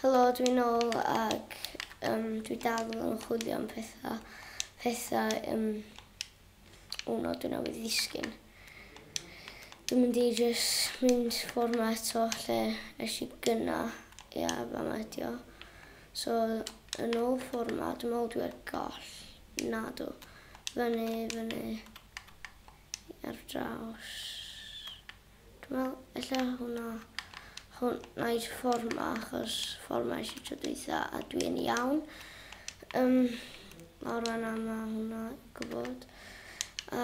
Helo, dwi'n ôl ac um, dwi dal yn chwilio am pethau. Pethau, um, o no, dwi'n awydd ddisgyn. Dwi'n mynd i just mynd ffordd ma eto lle eis i gyna. Ia, yeah, fa ma edio. So, yn ôl ffordd ma, dwi'n meddwl dwi'n goll. Na, do. Fyny, fyny. Ar draws. Dwi'n meddwl ella hwnna, hwnna i'r ffordd ma, achos ffordd ma eisiau tro dweitha, a dwi yn iawn. Um, nawr fanna ma hwnna gwybod.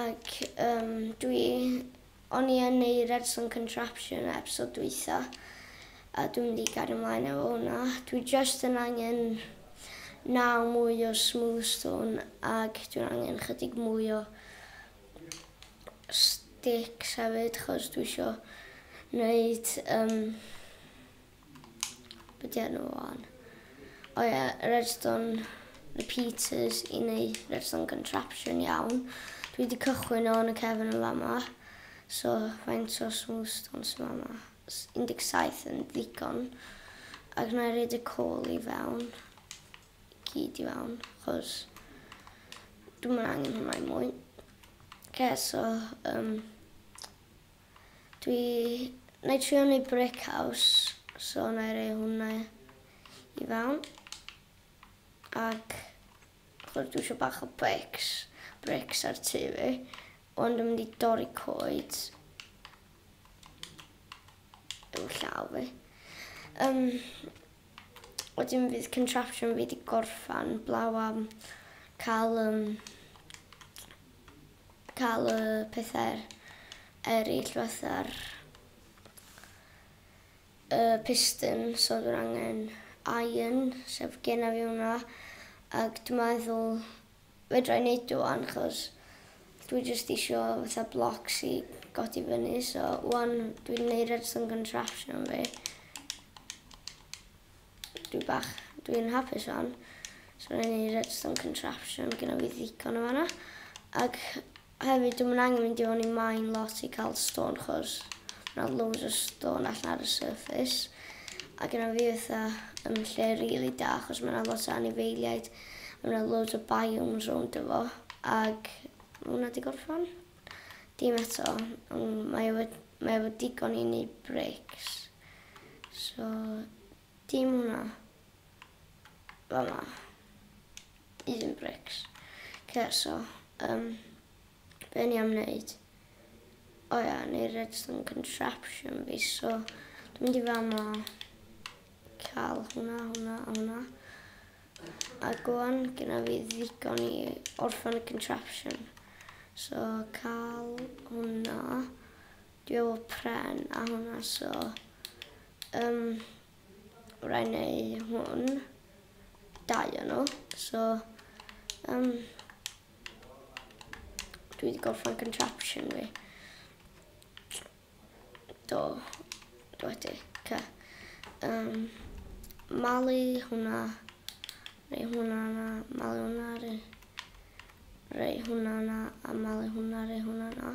Ac um, dwi, o'n i yn ei Redson Contraption episod dweitha, a dwi'n mynd i gario ymlaen efo hwnna. Dwi just yn angen naw mwy o smooth stone, ac dwi'n angen chydig mwy o Sticks hefyd chos dwi isio neud um, be di enw o'n? O oh, ie, yeah, redstone repeaters i neud redstone contraption iawn. Dwi wedi cychwyn o'n y cefn yn fama. So, faint o smooth stone sy'n fama? 17 yn ddigon. Ac na i reid y col i fewn. gyd i fewn achos dwi'm yn angen hwnna i mwy. Oce so yym dwi... Wna i trio wneud brick house so wna i roi hwnna i fewn. Ac chwrs dwi eisiau bach o bricks, bricks ar tu fi. Ond dwi'n mynd i dorri coed yw llaw fi. Um, Wedyn fydd contraption fi wedi gorffan blaw am cael um, cael y pethau eraill fatha'r y piston so dwi'n angen iron sef gen i fi hwnna ac dwi'n meddwl Fedra i neud o wan chos dwi jyst isio fatha blocks i godi fyny so wan dwi'n neud redstone contraption fi. Dwi bach, dwi'n hapus wan. So rwy'n neud redstone contraption gyda fi ddigon o fanna. Ac Hefyd dwi'm yn angen mynd i fewn i mine lot i cael stone chos mae 'na loads o stone allan ar y surface a gynna fi fatha yn lle rili da achos mae 'na lot o anifeiliaid a mae 'na loads o biomes rownd o fo ag mae hwnna 'di gorffan. Dim eto ond mae o mae o efo digon i neud bricks so Dim hwnna. Fama. These yn brics. Oce so yym be o'n i am neud? O ia o'n i redstone contraption fi so dwi'n mynd i fama cael hwnna, hwnna a hwnna. A gwan gyda fi ddigon i orffen y contraption. So cael hwnna. Dwi efo pren a hwnna so yym raid neu hwn. Dau o nhw so yym dwi wedi gorffen contraption fi. Do. Dwi wedi. Ca. Yym malu hwnna neu hwnna na malu hwnna rei hwnna na a malu hwnna rei hwnna na.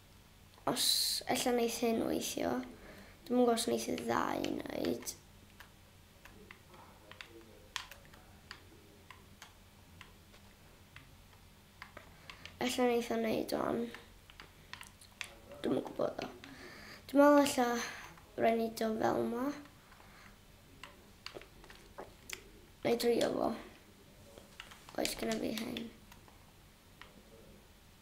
Os ella neith hyn weithio. Dwi'm yn gwbo os neith y ddau neud. Ella neith o neud o'n. Dwi'm yn gwbo ddo. Dwi'n meddwl ella rhaid ni do fel ma. Neu drio fo. Oes gyda fi hyn.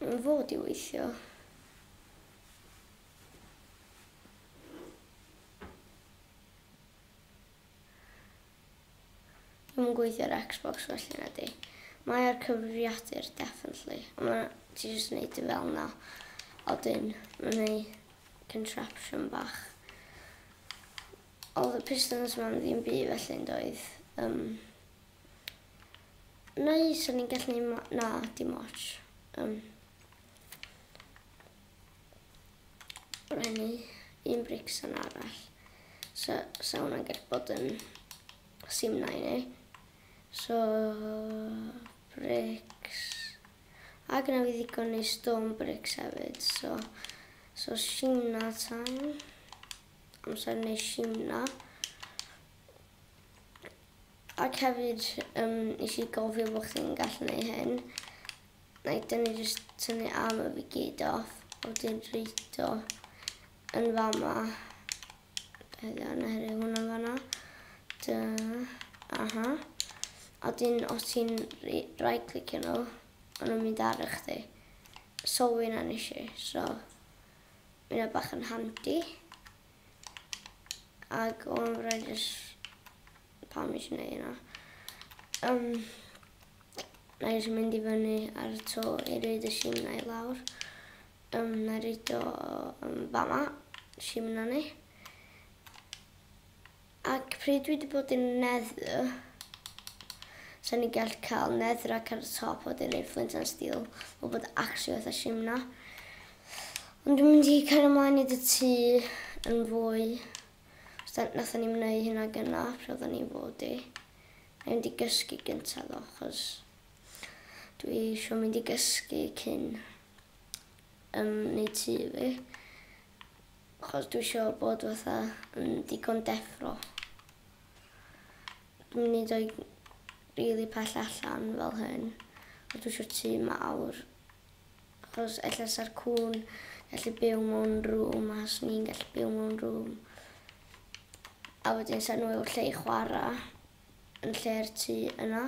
Mae'n fod i weithio. Dwi'n yn gweithio ar Xbox felly na di. Mae ar cyfrifiadur, definitely. Mae ti jyst yn neud i fel na. A wedyn, mae'n ei contraption bach. Oedd y pistons ma'n ddim byd felly yn doedd. Um, Neu so ni'n gallu neud mo- na dim ots. Um, Rhaid un brics yn arall. So, so hwnna'n gallu bod yn sim na i ni. So, brics. A gyda fi ddigon neu stone brics hefyd. So, so sim na tan. Amser neu sim na. Ac hefyd yym nes i gofio bo' chdi'n gallu neu' hyn. Nai dynu jyst tynu arm a fi gyd off a wedyn roid o yn fama. Helo na helo hwnna yn fanna. Dy aha. A wedyn os ti'n right clicio nhw ma' nhw'n mynd ar chdi. So hynna nes i so ma' hynna bach yn handi. Ac o'n rhaid jyst... Pam eisiau gwneud hynna? Um, na eisiau mynd i fyny ar y to i reid y sim na i lawr. Um, na reid o um, fama, sim na ni. Ac pryd dwi 'di bod yn Nether, 'sa ni'n gallu cael Netherrack ar y top a wedyn neud Flint and Steel. Ma'n bod actually fatha shim na. Ond dwi'n mynd i cario mlaen i dy tŷ yn fwy. Os da, nathon ni'n wneud hynna gyna, pryd oedden ni'n fod i. Mae'n mynd i gysgu gyntaf ddo, chos dwi eisiau mynd i gysgu cyn um, neud tŷ fi. Achos dwi isio bod fatha yn digon deffro. Dwi'n mynd i doi rili pell allan fel hyn. A dwi isio tŷ mawr. Achos ella sa'r cŵn gallu byw mewn rŵm a swn i'n gallu byw mewn rŵm. A wedyn sa'n nhw efo lle i chwara yn lle'r tŷ yna.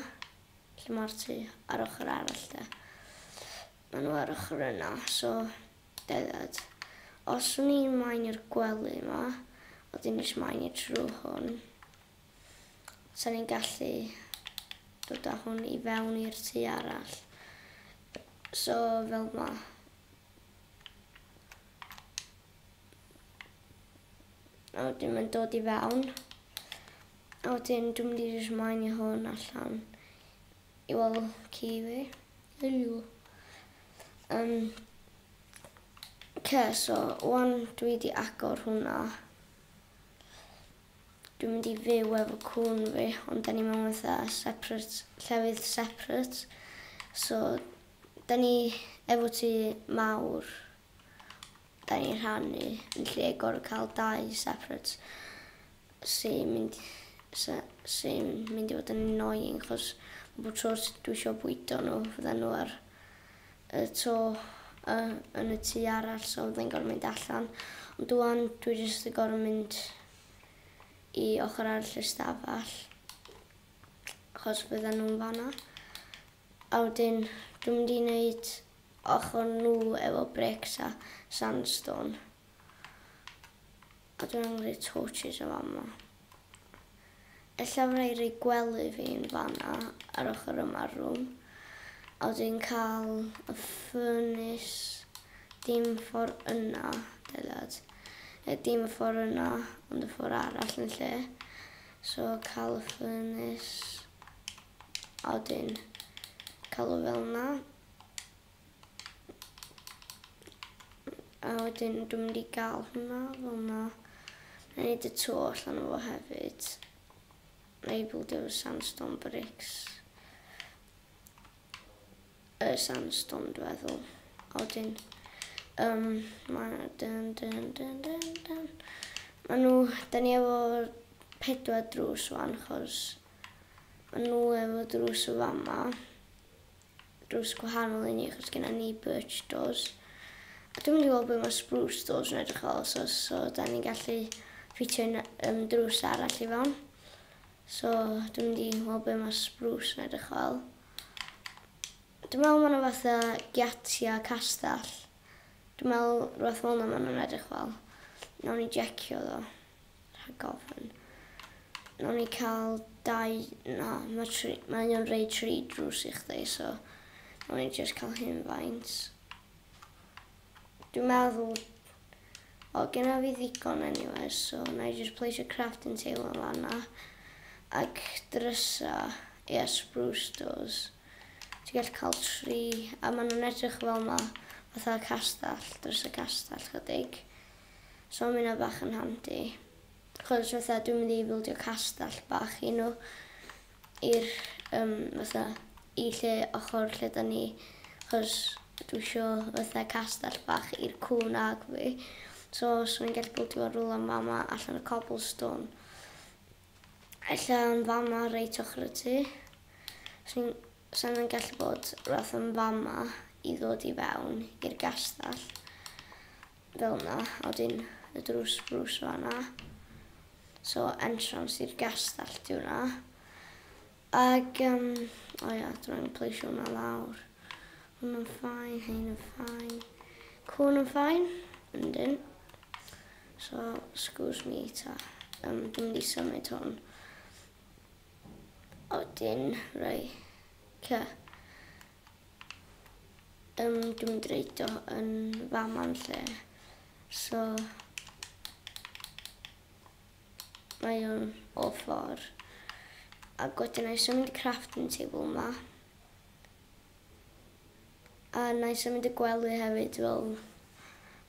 Lle ma'r tŷ ar ochr arall de. Maen nhw ar ochr yna, so gerdded. Os wn i'n maen i'r gwely yma, oedd un eisiau maen i trwy hwn, sa'n ni'n gallu dod â hwn i fewn i'r tu arall. So, fel ma. A wedyn mae'n dod i fewn. A wedyn dwi'n mynd i rhoi maen i hwn allan. I weld ci fi. Helo. Yym. Oce so ŵan dwi 'di agor hwnna. Dwi'n mynd i fyw efo cŵn fi ond 'dan ni mewn fatha separate llefydd separate so 'dan ni efo tŷ mawr Da ni'n rhannu yn lle gorfod cael dau separate sy'n mynd, sy, sy mynd i fod yn annoying chos bod tro dwi eisiau bwydo nhw fydden nhw ar y to uh, yn y tu arall so fydden gorfod mynd allan ond dwi'n dwi jyst yn gorfod mynd i ochr arall y stafell achos bydden nhw'n fanna a wedyn dwi'n mynd i wneud ochr nhw efo bricks a sandstone a dwi'n angen rhoi torches yn fama. Ella fydda i rhoi gwely fi'n fanna ar ochr yma'r rwm a wedyn cael y furnace dim ffordd yna, deliad. E, dim y ffordd yna, ond y ffordd arall yn lle. So cael y furnace a wedyn cael o fel yna. A wedyn dwi'n mynd i gael hwnna fel yna. Mae'n neud y to allan o fo hefyd. Mae'n bwyd efo sandstone bricks. Y sandstone dwi'n feddwl. A wedyn... Um, mae'n... Dyn, dyn, dyn, dyn, dyn. Mae nhw... Da ni efo pedwar drws wan, chos... Mae nhw efo drws o fama. drws gwahanol i ni achos genna ni birch doors. A dwi'n mynd i weld beth mae spruce doors yn edrych fel, so, so da ni'n gallu ffitio un um, drws arall i fewn. So dwi'n mynd i weld beth mae spruce yn edrych fel. Dwi'n meddwl mae'n fath o giatia castell. Dwi'n meddwl rhywbeth fel yna mae'n edrych fel. Nawn ni jecio ddo. Rhag ofn. Nawn ni cael dau... Na, mae tri... Mae o'n rei tri drws i chdi, so... Nawn ni just cael hyn faint. Dwi'n meddwl... O, gyda fi ddigon anyway, so na i just place a crafting table yn fanna. Ac drysa... Ie, yeah, spruce doors. Ti'n gallu cael tri... A maen nhw'n edrych fel yma, fatha castell, drysa castell chydig. So ma' hynna bach yn handi. Achos fatha dwi'n mynd i bildio castell bach i nhw. I'r yym fatha i lle ochor lle da ni. Achos dwi isio fatha castell bach i'r cŵn ag fi. So os o'n i'n gallu bildio fo rwla fama allan o cobblestone. Ella yn fama reit ochr y tŷ. Swn sa hynna'n gallu bod rwbath yn fama i ddod i fewn i'r gastell. Fel na, a wedyn y drws brws fanna. So entrance i'r gastell di hwnna. Ag, um, o ia, dwi'n angen pleisio hwnna lawr. Hwn yn ffain, hein yn ffain. Cwn yn ffain, yn dyn. So, excuse me, ta. Um, dwi'n mynd i symud hwn. O, dyn, rei. Okay. Yym dwi'n mynd i reid o yn fama'n lle. So mae o'n o ffordd. Ac wedyn na i symud y crafting table yma. A na i symud y gwely hefyd fel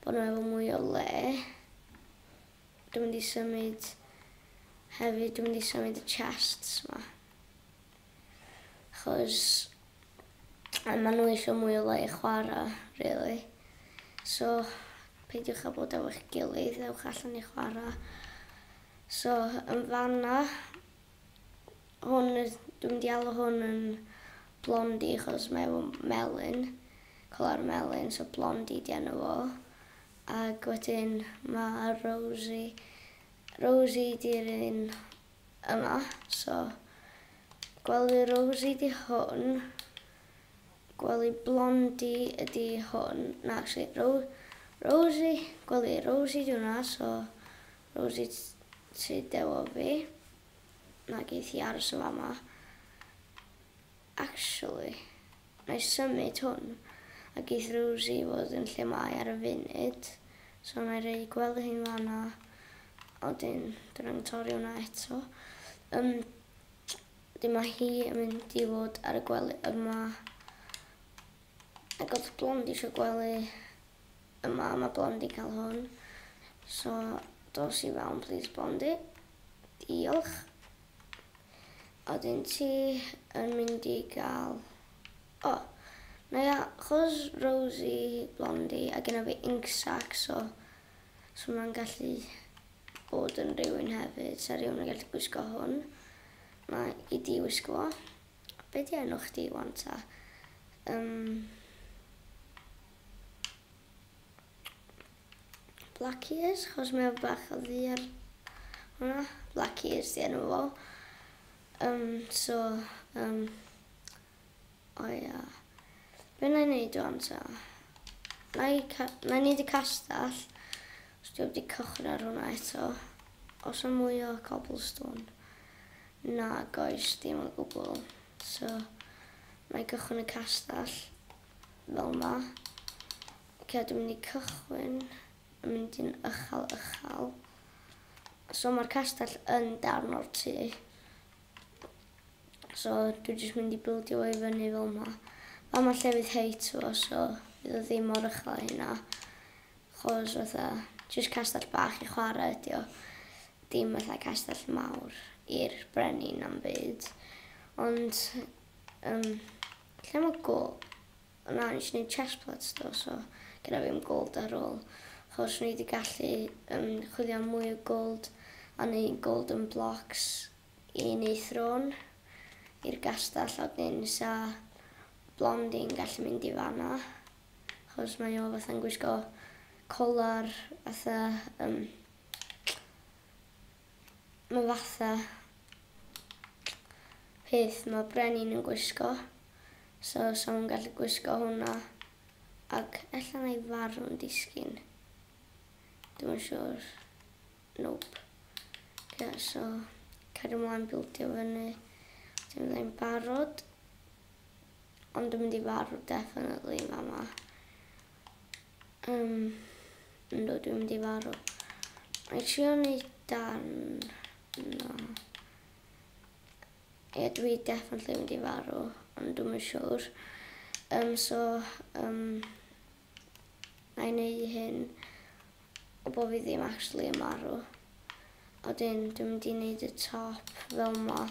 bod nhw efo mwy o le. Dwi'n mynd i symud hefyd, dwi'n mynd i symud y chests yma. Achos a ma' nhw isio mwy o le i chwara' rili. So peidiwch â bod efo'ch gilydd, ewch allan i chwara'. So yn fan'na hwn yy dwi'm mynd i alw hwn yn Blondie achos mae efo melyn, colour melyn, so Blondie 'di enw fo. Ag wedyn ma' Rosie, Rosie 'di'r un yma so gwely Rosie di hwn, gwely Blondie ydi hwn, na actually Ro Rosie, gwely Rosie di hwnna so Rosie ti dewo fi, na geith hi aros yn fama. Actually, wna i symud hwn, a geith Rosie fod yn lle mae ar y funud, so wna i roi gwely hi'n fanna, a wedyn dwi'n angen torri hwnna eto. Um, wedyn mae hi yn mynd i fod ar y gwely yma. Ac oedd Blond eisiau gwely yma, mae Blond i cael hwn. So, dos i fewn, please, Blondi. Diolch. Odyn ti yn mynd i gael... O! Na ia, chos Rosie, Blondie a gynna fi Inksack so so ma'n gallu bod yn rhywun hefyd. Sa rhywun yn gallu gwisgo hwn. Mae i di wisgo fo. Be di enw chdi wan ta? Um, Black Ears, chos mae o bach o ddu ar hwnna. Black Ears di enw fo. Um, so, um, o oh, ia. Yeah. Be na i wneud o'n ta? Na i, na i wneud y castell. Os dwi'n wedi cychwyn ar hwnna eto. Os am mwy o cobblestone. Na, goes, dim o gwbl. So, na i gychwyn y castell. Fel ma. Ok dwi'n mynd i cychwyn yn mynd i'n ychal ychal. So mae'r castell yn darn o'r tŷ. So dwi jyst mynd i bildio o'i fyny fel ma. Fa ma lle fydd height fo so fydd o ddim mor ychal a hynna. Chos fatha jyst castell bach i chwarae ydi o. Dim fatha castell mawr i'r brenin am byd. Ond um, lle mae go? Na nes i neud chest pads do so gynna fi 'm gold ar ôl achos o'n i 'di gallu yym chwilio am mwy o gold a neu' golden blocks i neu' throne i'r gastell a wedyn 'sa Blondie yn gallu mynd i fan'na achos mae o fatha'n gwisgo collar fatha yym ma' fatha peth ma' brenin yn gwisgo. So sa nhw'n gallu gwisgo hwnna ac ella na i farw'n disgyn. Dwi'n yn siwr. Nope. Yeah, so cario mlaen bildio fyny. Dwi'n mynd i'n barod. Ond dwi'n mynd i farw definitely yn fama. Um, ynddo dwi'n mynd i farw. Mae'n siŵr ni dan... No. Ie dwi definitely mynd i farw ond dwi'm yn siwr yym so yym na'i neu hyn o bo' fi ddim actually yn marw a wedyn dwi'n mynd i neud y top fel 'ma a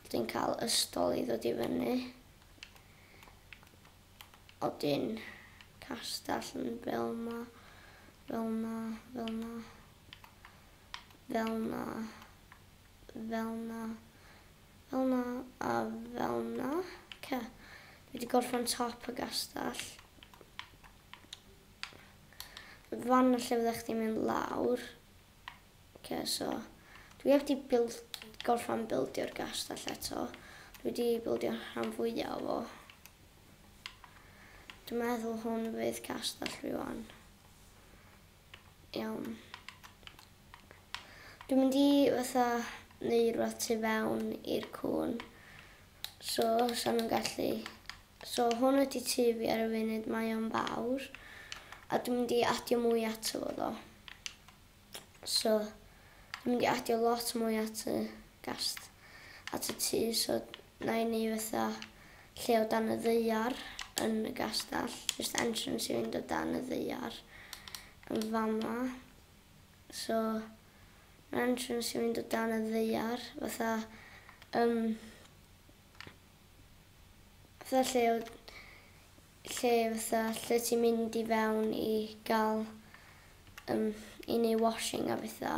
wedyn ca'l ystol i ddod i fyny a wedyn castell yn fel 'ma fel 'na fel 'na fel 'na fel 'na, fel 'na a fel 'na. Oce, dwi wedi gorffen top y gastell. Fan lle fyddech chdi'n mynd lawr. Oce, so dwi heb di build, gorffen bildio'r gastell eto. Dwi wedi bildio rhan fwyaf o. Dwi'n meddwl hwn fydd castell rhywun. Iawn. Dwi'n mynd i fatha neu rwbath tu fewn i'r cŵn. So, sa nhw'n gallu... So, hwn ydi tu fi ar y funud, mae o'n fawr. A dwi'n mynd i adio mwy ato fo ddo. So, dwi'n mynd i adio lot mwy at y gast, at y tu, so Mae ni fatha lle o dan y ddaear yn y gastell. Jyst entrance i fynd o dan y ddaear yn fama. So, mae entrance i fynd o dan y ddaear fatha... Um, fatha lle o... Lle fatha lle ti'n mynd i fewn i gael... Um, I neu washing a fatha.